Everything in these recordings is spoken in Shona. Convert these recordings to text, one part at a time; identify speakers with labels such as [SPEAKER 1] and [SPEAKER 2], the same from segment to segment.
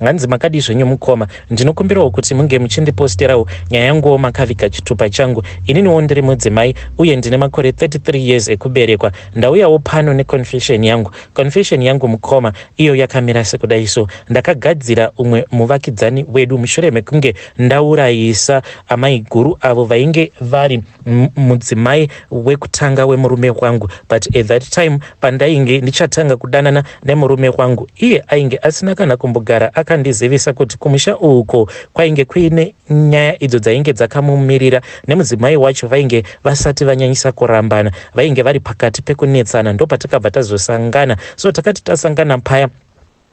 [SPEAKER 1] Hanzi makadii zvenyu mukoma, ndinokumbirawo kuti munge muchindiposterawo nyaya yanguwo makaviga chitupa changu. Ininiwo ndiri mudzimai uye ndine makore 33 years ekuberekwa. Ndauyawo pano neconfession yangu. Confession yangu mukoma iyo yakamira sekudai so. Ndakagadzira umwe muvakidzani wedu mushure mekunge ndaurayisa amaiguru avo vainge vari mudzimai wekutanga wemurume wangu but at that time pandainge ndichatanga kudanana nemurume wangu iye ainge asina kana kumbogara akandizivisa kuti kumusha uko kwainge kuine nyaya idzo dzainge dzakamumirira nemudzimai wacho vainge vasati vanyanyisa kurambana vainge vari pakati pekunetsana ndopatakabva tazosangana so takati tasangana paya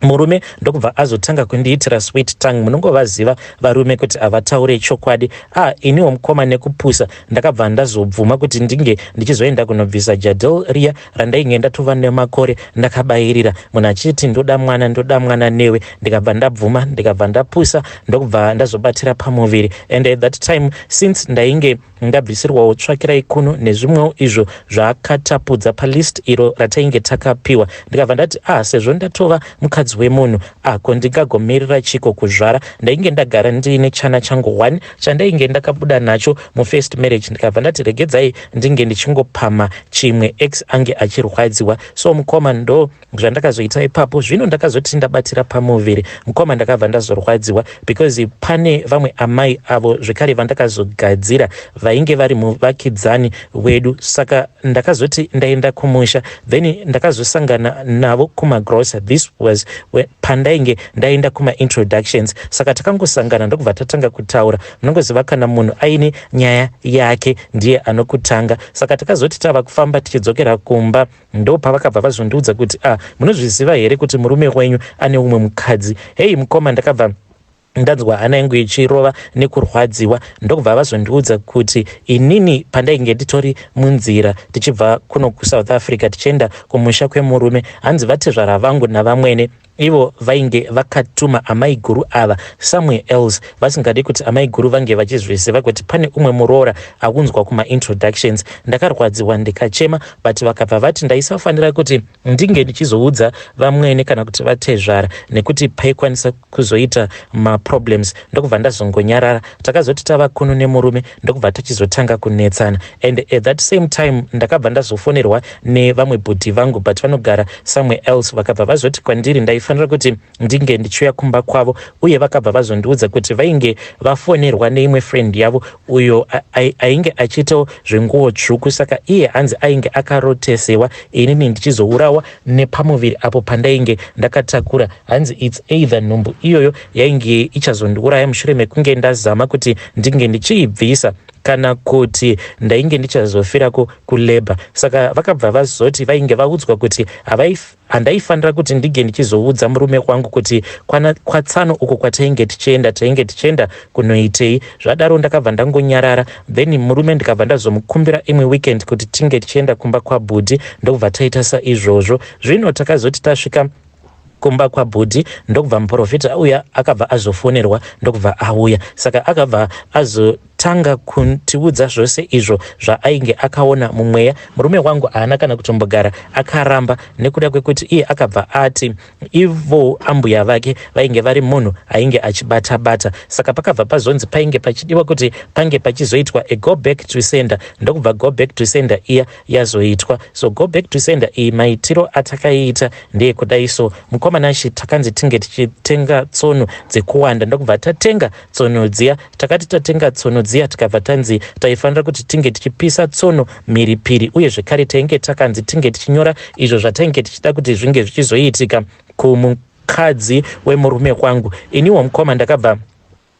[SPEAKER 1] murume ndokubva azotanga kundiitira sweet tongue munongovaziva varume kuti havataure chokwadi a ah, iniwo mukoma nekupusa ndakabva ndazobvuma kuti ndinge ndichizoenda kunobvisa jadel riya randainge ndatova nemakore ndakabayirira munhu achiti ndoda mwana ndoda mwana newe ndikabva ndabvuma ndikabva ndapusa ndokubva ndazobatira pamuviri and at that time since ndainge ndabvisirwawo tsvakirai kuno nezvimwewo izvo zvaakatapudza palist iro ratainge takapiwa ndikabva ndati ah sezvo ndatova mukadzi wemunhu ako ndingagomirira chiko kuzvara ndainge ndagara ndiine chana changu one chandainge ndakabuda nacho mufirst marriage ndikabva ndati regedzai ndinge ndichingopamha chimwe ex ange achirwadziwa so mukoma ndo zvandakazoita ipapo zvino ndakazoti ndabatira pamuviri mukoma ndakabva ndazorwadziwa because pane vamwe amai avo zvekare vandakazogadzira vainge vari muvakidzani wedu saka ndakazoti ndaenda kumusha then ndakazosangana navo kumagrosa this was pandainge Ndaenda kuma introductions saka takangosangana ndokubva tatanga kutaura. Munongoziva kana munhu aine nyaya yake ndiye anokutanga. Saka takazoti tava kufamba tichidzokera kumba ndopavakabva vazondiudza kuti ah munozviziva here kuti murume wenyu ane umwe mukadzi. Heyi mukoma ndakabva ndanzwa hana yangu ichirova nekurwadziwa ndokubva vazondiudza kuti inini pandainge nditori munzira tichibva kuno kusouth africa tichienda kumusha kwemurume hanzi vatezvara vangu navamwene Ivo vainge vakatuma amaiguru ava somewhere else vasingade kuti amaiguru vange vachizviziva kuti pane umwe muroora akunzwa kumaintroductions. Ndakarwadziwa ndikachema but vakabva vati ndaisafanira kuti ndinge ndichizoudza vamwene kana kuti vatezvara nekuti paikwanisa kuzoita maproblems ndokubva ndazongonyarara. Takazoti tava kuno nemurume ndokubva tichizotanga kunetsana and at that same time ndakabva ndazofonerwa nevamwe bhudhi vangu but vanogara somewhere else vakabva vazoti kwandiri ndaifanira kuti ndinge ndichiuya kumba kwavo uye vakabva vazondiudza kuti vainge vafonerwa neimwe friend yavo uyo ainge achiitawo zvenguwo tsvuku saka iye hanzi ainge akarotesewa inini ndichizourawa nepamuviri apo pandainge ndakatakura hanzi its either nhumbu iyoyo yainge ichazondiuraya mushure mekunge ndazama kuti ndinge ndichiibvisa kana kuti ndainge ndichazofirako kulabor saka vakabva vazoti vainge vaudzwa kuti handaifanira kuti ndinge ndichizoudza murume wangu kuti kwatsano uko kwatainge tichienda tainge tichienda kunoitei zvadaro ndakabva ndangonyarara then murume ndikabva ndazomukumbira imwe weekend kuti tinge tichienda kumba kwabhudhi ndokubva taita saizvozvo zvino takazoti tasvika kumba kwabhudhi ndokubva muporofita auya akabva azofonerwa ndokubva auya saka akabva azotanga kutiudza zvose izvo zvaainge akaona mumweya murume wangu haana kana kutombogara akaramba nekuda kwekuti iye akabva ati ivo ambuya vake vainge vari munhu ainge achibata bata saka pakabva pazonzi painge pachidiwa kuti pange pachizoitwa a go back to sender ndokubva go back to sender iya yazoitwa so go back to sender iyi maitiro atakaiita ndeekudai so mukoma nashe takanzi tinge tichitenga tsono dzekuwanda ndokubva tatenga tsono dziya takati tatenga tsono dziya tikabva tanzi taifanira kuti tinge tichipisa tsono mhiripiri uye zvekare tainge takanzi tinge tichinyora izvo zvatainge tichida kuti zvinge zvichizoitika kumukadzi wemurume kwangu iniwo mukoma ndakabva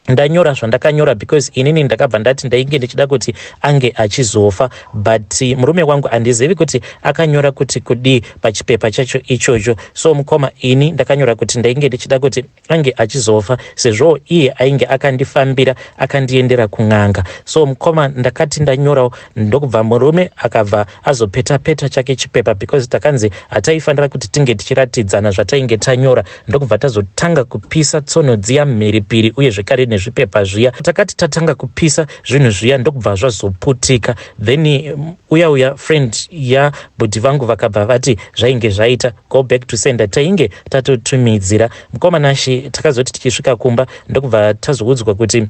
[SPEAKER 1] ndanyora zvandakanyora because inini ndakabva ndati ndainge ndichida kuti ange achizofa but murume wangu handizivi kuti akanyora kuti kudii pachipepa chacho ichocho so mukoma ini ndakanyora kuti ndainge ndichida kuti ange achizofa sezvoo iye ainge akandifambira akandiendera kun'anga so mukoma ndakati ndanyorawo ndokubva murume akabva azopeta peta chake chipepa because takanzi hataifanira kuti tinge tichiratidzana zvatainge tanyora ndokubva tazotanga kupisa tsono dziya mhiripiri uye zvekare nezvipepa zviya takati tatanga kupisa zvinhu zviya ndokubva zvazoputika then mm, uya uya friend yabhudhi vangu vakabva vati zvainge zvaita go back to sender tainge tatotumidzira mukoma nashi takazoti tichisvika kumba ndokubva tazoudzwa kuti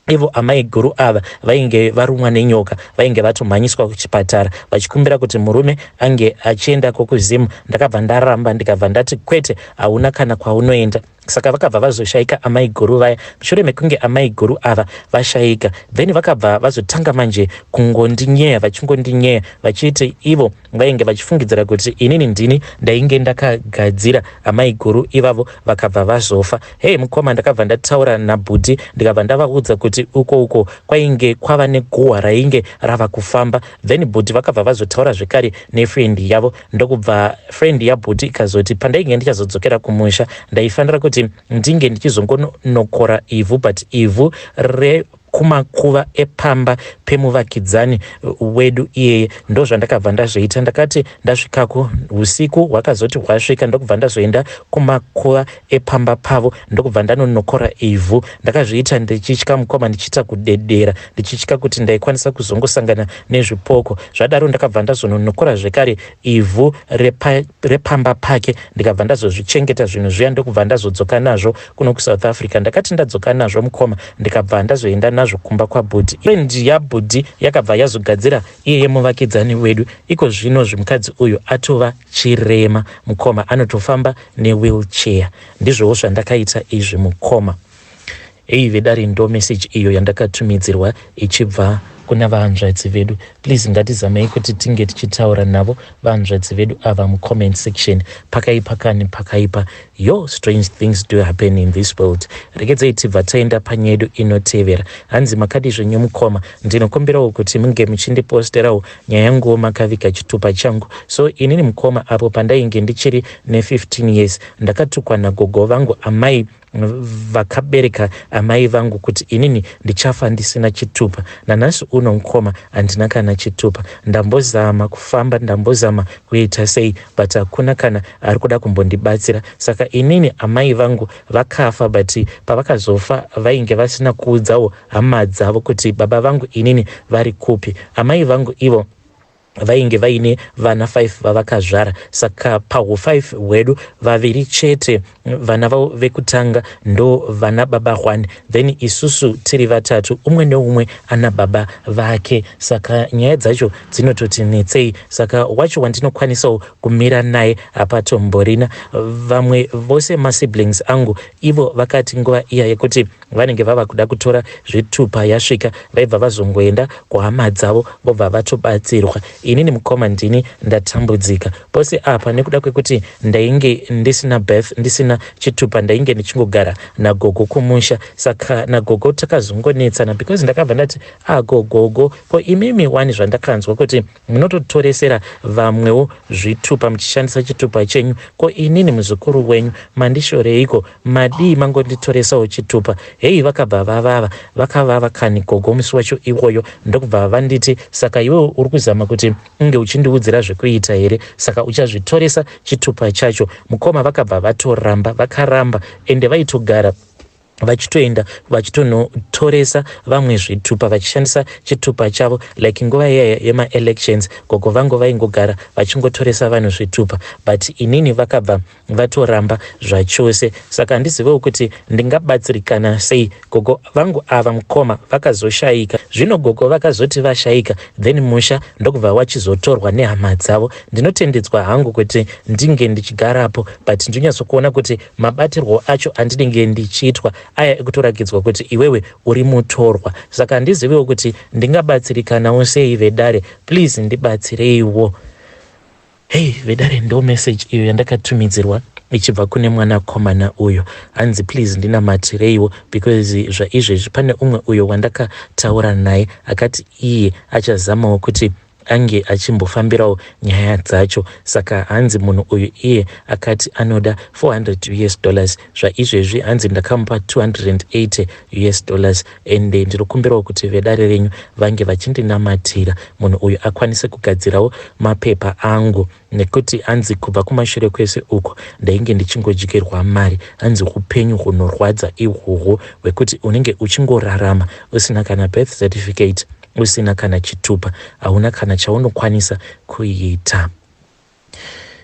[SPEAKER 1] Ivo amaiguru ava vainge varumwa nenyoka vainge vatomhanyiswa kuchipatara vachikumbira kuti murume ange achienda kokuzim ndakabva ndaramba ndikabva ndati kwete hauna kana kwaunoenda saka vakabva vazoshaika amaiguru vaya mushure mekunge amaiguru ava vashaika then vakabva vazotanga manje kungondinyeya vachingondinyeya vachiti ivo vainge vachifungidzira kuti inini ndini ndainge ndakagadzira amaiguru ivavo vakabva vazofa hei mukoma ndakabva ndataura nabhuti ndikabva ndavaudza kuti uko uko kwainge kwava neguhwa rainge rava kufamba then bhuti vakabva vazotaura zvekare nefriend yavo ndokubva friend yabhuti ikazoti pandainge ndichazodzokera kumusha ndaifanira kuti ndinge ndichizongonokora ivhu but ivhu re kumakuva epamba pemuvakidzani wedu iyeye ndozvandakabva ndazviita ndakati ndasvikako usiku hwakazoti hwasvika ndokubva ndazoenda kumakuva epamba pavo ndokubva ndanonokora ivhu ndakazviita ndichitya mukoma ndichiita kudedera ndichitya kuti ndaikwanisa kuzongosangana nezvipoko zvadaro ndakabva ndazononokora zvekare ivhu repamba pake ndikabva ndazozvichengeta zvinhu zviya ndokubva ndazodzoka nazvo kuno kusouth africa ndakati ndadzoka nazvo mukoma ndikabva ndazoenda nazvo kumba kwabhudhi and yabhudhi yakabva yazogadzira iye yemuvakidzani wedu iko zvino zvimukadzi uyu atova chirema mukoma anotofamba newheelchair ndizvowo zvandakaita izvi mukoma hei vedare ndo message iyo yandakatumidzirwa ichibva kuna vahanzvadzi vedu please ngatizamei kuti tinge tichitaura navo vahanzvadzi vedu ava mucomment section pakaipa kani pakaipa yo strange things do happen in this world regedzei tibva taenda panyedu inotevera hanzi makadi zvenyu mukoma ndinokumbirawo kuti munge muchindiposterawo nyaya yanguwo makaviga chitupa changu so inini mukoma apo pandainge ndichiri ne15 years ndakatukwa nagogo vangu amai vakabereka amai vangu kuti inini ndichafa ndisina chitupa nanhasi uno mukoma handina kana chitupa ndambozama kufamba ndambozama kuita sei but hakuna kana ari kuda kumbondibatsira saka inini amai vangu vakafa but pavakazofa vainge vasina kuudzawo hama dzavo kuti baba vangu inini vari kupi amai vangu ivo vainge vaine vana 5 vavakazvara saka pahu 5 hwedu vaviri chete vana vavo vekutanga ndo vana baba hwani then isusu tiri vatatu umwe neumwe ana baba vake saka nyaya dzacho dzinototi netsei saka wacho wandinokwanisawo kumira naye hapatomborina vamwe vose masiblings angu ivo vakati nguva iya yekuti Vanenge vava kuda kutora zvitupa yasvika vaibva vazongoenda kuhama dzavo vobva vatobatsirwa. Inini mukoma ndini ndatambudzika pose apa nekuda kwekuti ndainge ndisina birth ndisina chitupa ndainge ndichingogara nagogo kumusha saka nagogo takazongonetsana because ndakabva ndati agogogo ah, ko imimi wani zvandakanzwa kuti Munototoresera vamwewo zvitupa muchishandisa chitupa chenyu ko inini muzukuru wenyu mandishoreiko madii mangonditoresawo chitupa heyi vakabva vavava vakavava kani gogo musi wacho iwoyo ndokubva vanditi saka iwewe uri kuzama kuti unge uchindiudzira zvekuita here saka uchazvitoresa chitupa chacho mukoma vakabva vatoramba vakaramba ende vaitogara vachitoenda vachitonotoresa vamwe zvitupa vachishandisa chitupa chavo like nguva iyaya yemaelections gogo vangu vaingogara vachingotoresa vanhu zvitupa but inini vakabva vatoramba zvachose saka handizivewo kuti ndingabatsirikana sei gogo vangu ava mukoma vakazoshayika zvino gogo vakazoti vashayika then musha ndokubva wachizotorwa nehama dzavo ndinotendedzwa hangu kuti ndinge ndichigarapo but ndinyatsokuona kuti Mabatirwo acho andinenge ndichiitwa aya ekutorakidzwa kuti iwewe uri mutorwa saka handizivewo kuti ndingabatsirikanawo sei vedare please ndibatsireiwo. Hey vedare ndo message iyo yandakatumidzirwa ichibva kune mwana komana uyo hanzi please ndinamatireiwo because zvaizvezvi pane umwe uyo wandakataura naye akati iye achazamawo kuti ange achimbofambirawo nyaya dzacho saka hanzi munhu uyu iye akati anoda 400 us dollars zvaizvezvi hanzi ndakamupa 280 us dollars ende ndiri kumbirawo kuti vedare renyu vange vachindinamatira munhu uyu akwanise kugadzirawo mapepa angu nekuti hanzi kubva kumashure kwese uko ndainge ndichingodyirwa mari hanzi upenyu hunorwadza ihwohwo hwekuti unenge uchingorarama usina kana birth certificate usina kana chitupa hauna kana chaunokwanisa kuita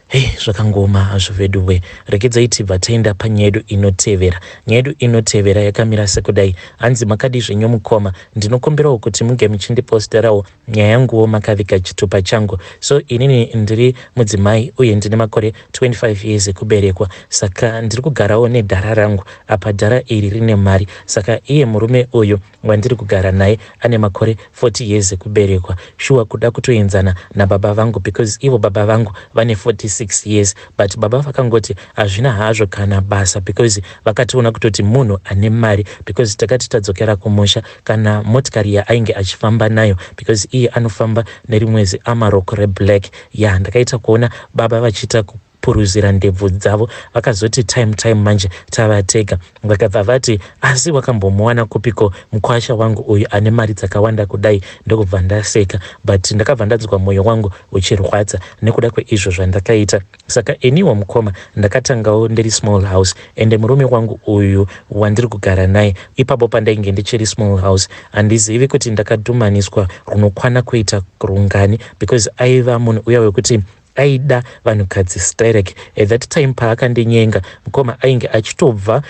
[SPEAKER 1] hei hey, zvakangoma hazvo vedu we rekedzai tibva taenda panyaya yedu inotevera nyaya yedu inotevera yakamira sekudai hanzi makadizve nyomukoma ndinokumbirawo kuti munge muchindiposterawo nyaya yanguwo makaviga chitupa changu so inini ndiri mudzimai uye ndine makore 25 years ekuberekwa saka ndiri kugarawo nedhara rangu apa dhara iri rine mari saka iye murume uyu wandiri kugara naye ane makore 40 years ekuberekwa shuwa kuda kutoenzana nababa vangu because ivo baba vangu vane 46 years but baba vakangoti hazvina hazvo kana basa because vakationa kutoti munhu ane mari because takati tadzokera kumusha kana motikari yaainge achifamba nayo because iye anofamba nerimwe ziamarok reblack ya yeah, ndakaita kuona baba vachiita kupuruzira ndebvu dzavo vakazoti time time manje tavatega vakabva vati asi wakambomuwana kupiko mukwasha wangu uyu ane mari dzakawanda kudai ndokubva ndaseka but ndakabva ndanzwa mwoyo wangu uchirwadza nekuda kweizvo zvandakaita Saka iniwo mukoma ndakatangawo ndiri small house ende murume wangu uyu wandiri kugara naye ipapo pandainge ndichiri small house handizivi kuti ndakadhumaniswa runokwana kuita rungani because aiva munhu uya wekuti aida vanhukadzi sterek at that time paakandinyenga mukoma ainge achitobva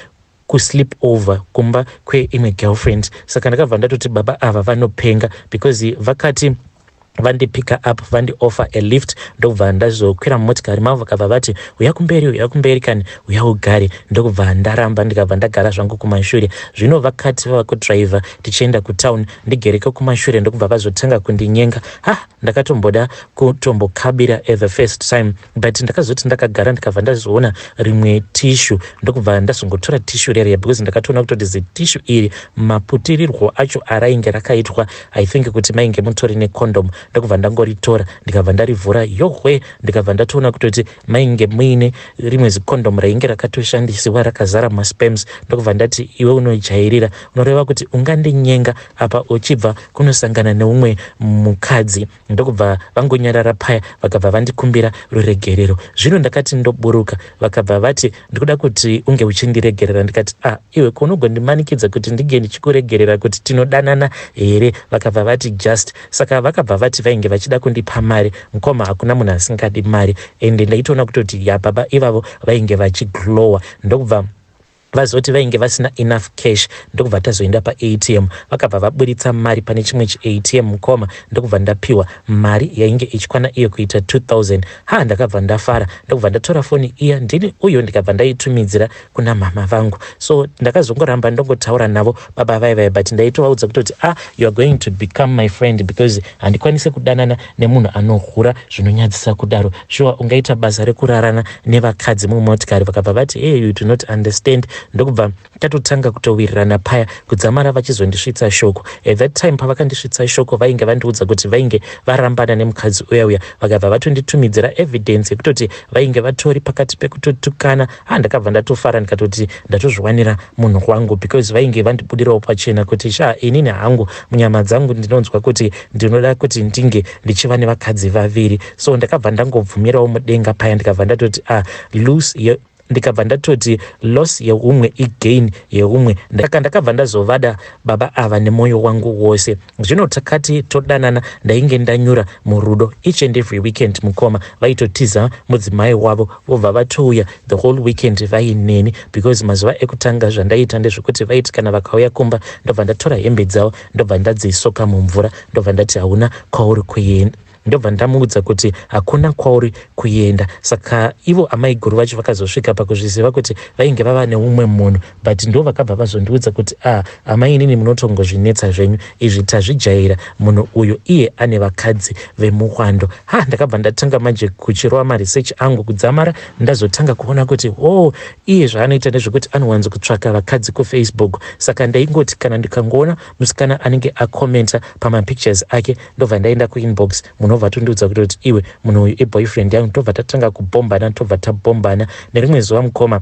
[SPEAKER 1] ku sleep over kumba kwe imwe girlfriend saka ndakabva ndatoti baba ava vanopenga because vakati vandipicker up vandioffer a lift ndokubva ndazokwira mumotikari mavo vakabva vati uya kumberi uya kumberi kani uya ugare ndokubva ndaramba ndikabva ndagara zvangu kumashure zvino vakati vava kudriver tichienda kutown ndigereke kumashure ndokubva vazotanga kundinyenga ha Ndakatomboda kutombokabira at the first time but ndakazoti ndakagara ndikabva ndazoona rimwe tishu ndokubva ndazongotora tishu rerya because ndakatoona kutoti zitishu iri maputirirwo acho arainge rakaitwa i think kuti mainge mutori necondom ndokubva ndangoritora ndikabva ndarivhura yohwe ndikabva ndatoona kutoti mainge muine rimwe zicondom rainge rakatoshandisiwa rakazara maspems ndokubva ndati iwe unojairira unoreva kuti ungandinyenga apa uchibva kunosangana neumwe mukadzi ndokubva vangonyarara paya vakabva vandikumbira ruregerero zvino ndakati ndoburuka vakabva vati ndikuda kuti unge uchindiregerera ndikati a ah, iwe kunogondimanikidza kuti ndinge ndichikuregerera kuti tinodanana here vakabva vati just saka vakabva vati vainge vachida kundipa mari mukoma hakuna munhu asingadi mari ende ndaitoona kutoti ya baba ivavo vainge vachiglowa ndokubva Vazoti vainge vasina enough cash ndokubva tazoenda paATM vakabva vaburitsa mari pane chimwe chiATM mukoma ndokubva ndapiwa mari yainge ichikwana iyo kuita 2000 ha ndakabva ndafara ndokubva ndatora foni iya ndini uyo ndikabva ndaitumidzira kuna mhama vangu so ndakazongoramba ndongotaura navo baba vai vai but ndaitovaudza kutoti ah you are going to become my friend because handikwanise kudanana nemunhu anohura zvinonyadzisa kudaro shuwa ungaita basa rekurarana nevakadzi mumotikari vakabva vati hey you do not understand ndokubva tatotanga kutowirirana paya kudzamara vachizondisvitsa shoko at that time pavakandisvitsa shoko vainge vandiudza kuti vainge varambana nemukadzi uya uya vakabva vatonditumidzira evidence yekutoti vainge vatori pakati pekutotukana ha ndakabva ndatofara ndikatoti ndatozviwanira munhu wangu because vainge vandibudirawo pachena kuti sha inini hangu munyama dzangu ndinonzwa kuti ndinoda kuti ndinge ndichiva nevakadzi vaviri so ndakabva ndangobvumirawo mudenga paya ndikabva ndatoti a ah, loose ndikabva ndatoti loss yeumwe igain yeumwe ndaka ndakabva ndazovada baba ava nemwoyo wangu wose Zvino takati todanana ndainge ndanyura murudo each and every weekend mukoma vaitotiza mudzimai wavo vobva vatouya the whole weekend vaineni because mazuva ekutanga zvandaiita ndezvekuti vaiti kana vakauya kumba ndobva ndatora hembe dzavo ndobva ndadzisoka mumvura ndobva ndati hauna kwauri kuenda ndobva ndamuudza kuti hakuna kwauri kuenda saka ivo amaiguru vacho vakazosvika pakuzviziva kuti vainge vava neumwe munhu but ndo vakabva vazondiudza kuti a ah, amai inini munotongozvinetsa zvenyu izvi tazvijaira munhu uyu iye ane vakadzi vemuhwando ha ndakabva ndatanga manje kuchirova maresearch angu kudzamara ndazotanga kuona kuti o oh, iye zvaanoita ndezvekuti anowanzo kutsvaka vakadzi kufacebook saka ndaingoti kana ndikangoona musikana anenge acomenta pamapictures ake ndobva ndaenda kuinbox munhu obva tondiudza kuti kuti iwe munhu uyu iboyfriend yangu tobva tatanga kubhombana tobva tabhombana nerimwe zuva mukoma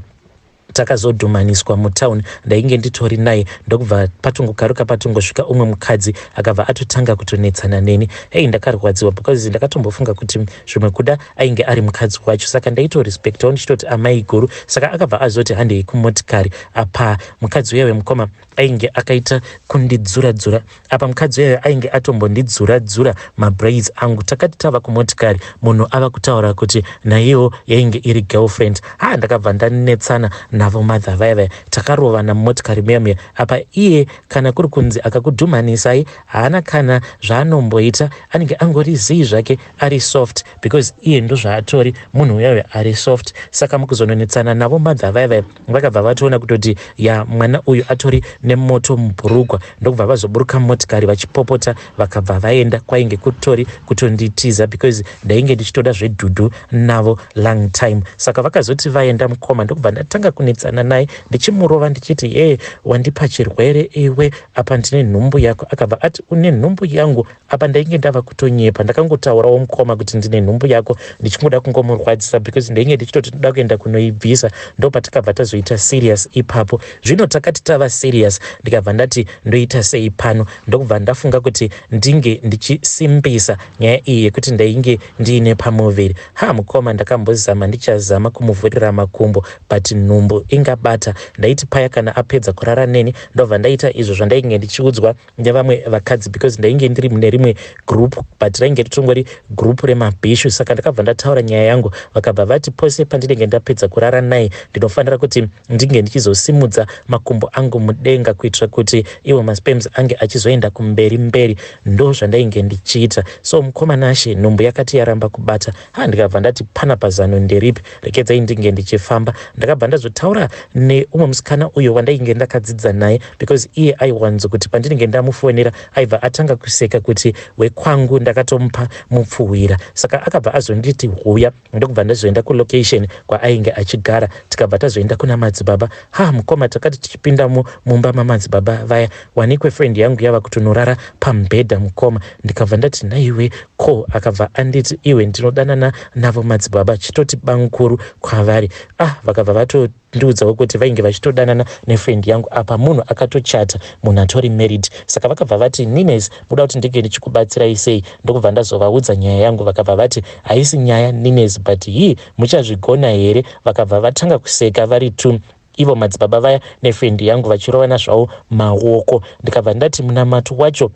[SPEAKER 1] takazodhumaniswa mutown ndainge nditori naye ndokubva patongokaruka patongosvika umwe mukadzi akabva atotanga kutonetsana neni hei ndakarwadziwa because ndakatombofunga kuti zvimwe kuda ainge ari mukadzi wacho saka ndaitorespectawo ndichitoti amai guru saka akabva azoti handei kumotikari apa mukadzi uye wemukoma ainge akaita kundidzura dzura apa mukadzi uyayo ainge atombondidzura dzura mabraids angu takati tava kumotikari munhu ava kutaura kuti naiyewo yainge iri girlfriend ha ndakabva ndanetsana navo mother vaya vaya takarovana mumotikari muya muya apa iye kana kuri kunzi akakudhumhanisai haana kana zvaanomboita anenge angori zii zvake ari soft because iye ndozvaatori munhu uyayo ari soft saka mukuzononetsana navo mother vaya vaya vakabva vatoona kutoti ya mwana uyu atori nemoto mubhurugwa ndokubva vazoburuka motikari vachipopota vakabva vaenda kwainge kutori kutonditiza because ndainge ndichitoda zvedhudhu navo long time saka vakazoti vaenda mukoma ndokubva ndatanga kunetsana naye ndichimurova ndichiti hee wandipa chirwere iwe apa ndine nhumbu yako akabva ati une nhumbu yangu Apa ndainge ndava kutonyepa ndakangotaurawo mukoma kuti ndine nhumbu yako ndichingoda kungomurwadzisa because ndainge ndichitoti ndoda kuenda kunoibvisa ndopatikabva tazoita serious ipapo zvino takati tava serious ndikabva ndati ndoita sei pano ndokubva ndafunga kuti ndinge ndichisimbisa nyaya iyi yekuti ndainge ndiine pamuviri ha mukoma ndakambozama ndichazama kumuvhurira makumbo but nhumbu ingabata ndaiti paya kana apedza kurara neni ndobva ndaita izvo zvandainge ndichiudzwa nevamwe vakadzi because ndainge ndiri mune rimwe group but rainge ritongori group remabhishu saka ndakabva ndataura nyaya yangu vakabva vati pose pandinenge ndapedza kurara naye ndinofanira kuti ndinge ndichizosimudza makumbo angu mudenga kuitira kuti iwo maspems ange achizoenda kumberi mberi ndo zvandainge ndichiita so mukoma nashe nhumbu yakati yaramba kubata ha ndikabva ndati pana pazano nderipi rekedzai ndinge ndichifamba ndakabva ndazotaura neumwe musikana uyo wandainge ndakadzidza naye because iye aiwanzo kuti pandinenge ndamufonera aibva atanga kuseka kuti wekwangu ndakatomupa mupfuhwira saka akabva azonditi huya ndokubva ndazoenda kulocation kwaainge achigara tikabva tazoenda kuna madzibaba ha mukoma takati tichipindamo mumba mamadzibaba vaya wanikwe friend yangu yava kutonorara pamubhedha mukoma ndikabva ndati nhaiwe ko akabva anditi iwe ndinodanana navo madzibaba chitoti bamukuru kwavari ah vakabva vato ndiudzawo kuti vainge vachitodanana nefriend yangu apa munhu akatochata munhu atori married saka vakabva vati nines muda kuti ndinge ndichikubatsirai sei ndokubva ndazovaudza nyaya yangu vakabva vati haisi nyaya nines but hii muchazvigona here vakabva vatanga kuseka vari two ivo madzibaba vaya nefendi yangu vachirovana zvavo maoko ndikabva ndati munamato wacho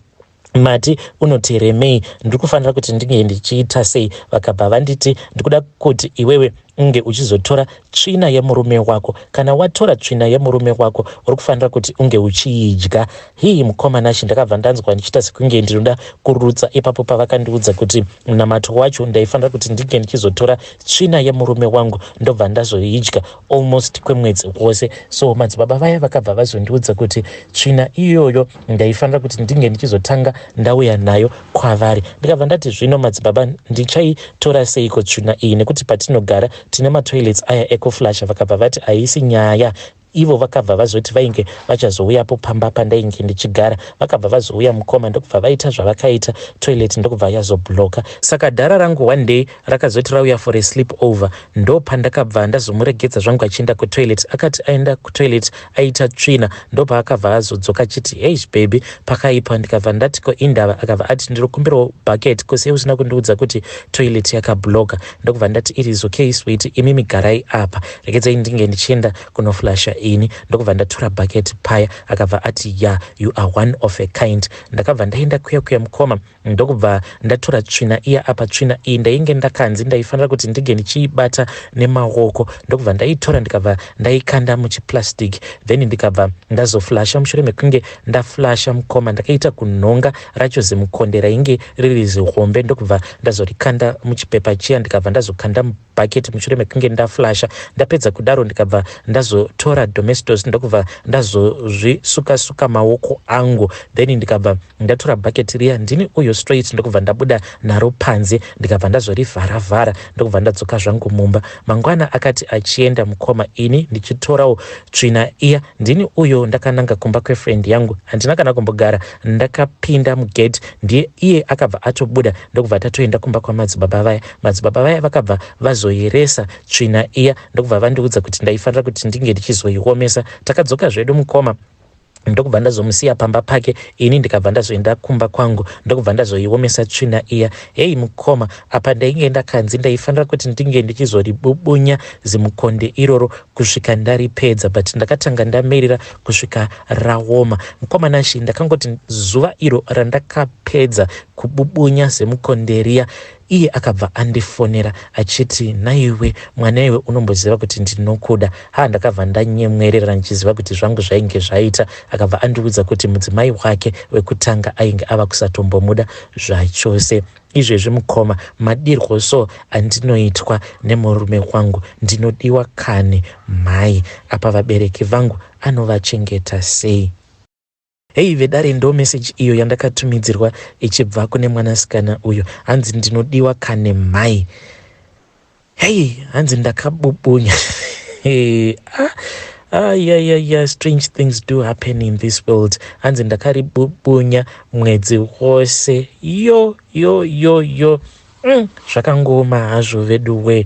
[SPEAKER 1] mati unoteremei ndiri kufanira kuti ndinge ndichiita sei vakabva vanditi ndikuda kuti iwewe unge uchizotora tsvina yemurume wako kana watora tsvina yemurume wako uri kufanira kuti unge uchiidya hii mukoma nashe ndakabva ndanzwa ndichiita sekunge ndinoda kurutsa ipapo pavakandiudza kuti munamato wacho ndaifanira kuti ndinge ndichizotora tsvina yemurume wangu ndobva ndazoidya almost kwemwedzi wose so madzibaba vaya vakabva vazondiudza kuti tsvina iyoyo ndaifanira kuti ndinge ndichizotanga ndauya nayo kwavari ndikabva ndati zvino madzibaba ndichaitora seiko tsvina iyi nekuti patinogara tine matoilets aya ekuflasha vakabva vati haisi nyaya ivo vakabva vazoti vainge vachazouyapo pamba pandainge ndichigara vakabva vazouya mukoma ndokubva vaita zvavakaita toilet ndokubva yazobloka saka dhara rangu one day Rakazoti rauya for a sleep over ndopandakabva ndazomuregedza zvangu achienda kutoilet. Akati aenda kutoilet aita tsvina ndopaakabva azodzoka achiti heish baby pakaipa ndikabva ndati ko indava akabva ati ndinokumbirawo bucket kose usina kundiudza kuti toilet yakabloka ndokubva ndati it is okay sweet imi migarai apa regedzai ndinge ndichienda kunoflasha ini ndokubva ndatura bucket paya akabva ati ya yeah, you are one of a kind ndakabva ndaenda kuya kuya mukoma ndokubva ndatora tsvina iya apa tsvina iyi ndainge ndakanzi ndaifanira kuti ndinge ndichiibata nemaoko ndokubva ndaitora ndikabva ndaikanda muchiplastic then ndikabva ndazoflasha mushure mekunge ndaflasha mukoma ndakaita kunhonga racho zimukonde rainge riri zihombe ndokubva ndazorikanda muchipepa chiya ndikabva ndazokanda bucket mushure mekunge ndaflasha ndapedza kudaro ndikabva ndazotora domestos ndokubva ndazozvisuka suka maoko angu then ndikabva ndatora bucket riya ndini uyo straight ndokubva ndabuda naro panze ndikabva ndazorivhara vhara ndokubva ndadzoka zvangu mumba mangwana akati achienda mukoma ini ndichitorawo tsvina iya ndini uyo ndakananga kumba kwefriend yangu handina kana kumbogara ndakapinda mugate ndiye iye akabva atobuda ndokubva tatoenda kumba kwamadzibaba vaya Madzibaba vaya vakabva vazoyeresa tsvina iya ndokubva vandiudza kuti ndaifanira kuti ndinge ndichizoiomesa. Takadzoka zvedu mukoma ndokubva ndazomusiya pamba pake ini ndikabva ndazoenda kumba kwangu ndokubva ndazoiomesa tsvina iya heyi mukoma apa ndainge ndakanzi ndaifanira kuti ndinge ndichizoribubunya zimukonde iroro kusvika ndaripedza but ndakatanga ndamirira kusvika raoma mukoma nashi ndakangoti zuva iro randakapedza kububunya semukonde riya Iye akabva andifonera achiti nhaiwe mwana iwe unomboziva kuti ndinokuda. Haa ndakabva ndanyemwerera ndichiziva kuti zvangu zvainge zvaita. Akabva andiudza kuti mudzimai wake wekutanga ainge ava kusatombomuda zvachose. Izvezvi mukoma madirwo so andinoitwa nemurume wangu ndinodiwa kani mhai apa vabereki vangu anovachengeta sei? Hei vedare ndo message iyo yandakatumidzirwa ichibva kune mwanasikana uyo hanzi ndinodiwa kane mhai hei hanzi ndakabubunya hey, ah, ah, yeah, yeah, yeah. strange things do happen in this world hanzi ndakaribubunya mwedzi wose yo yo yo yo mm, zvakangooma hazvo vedu wee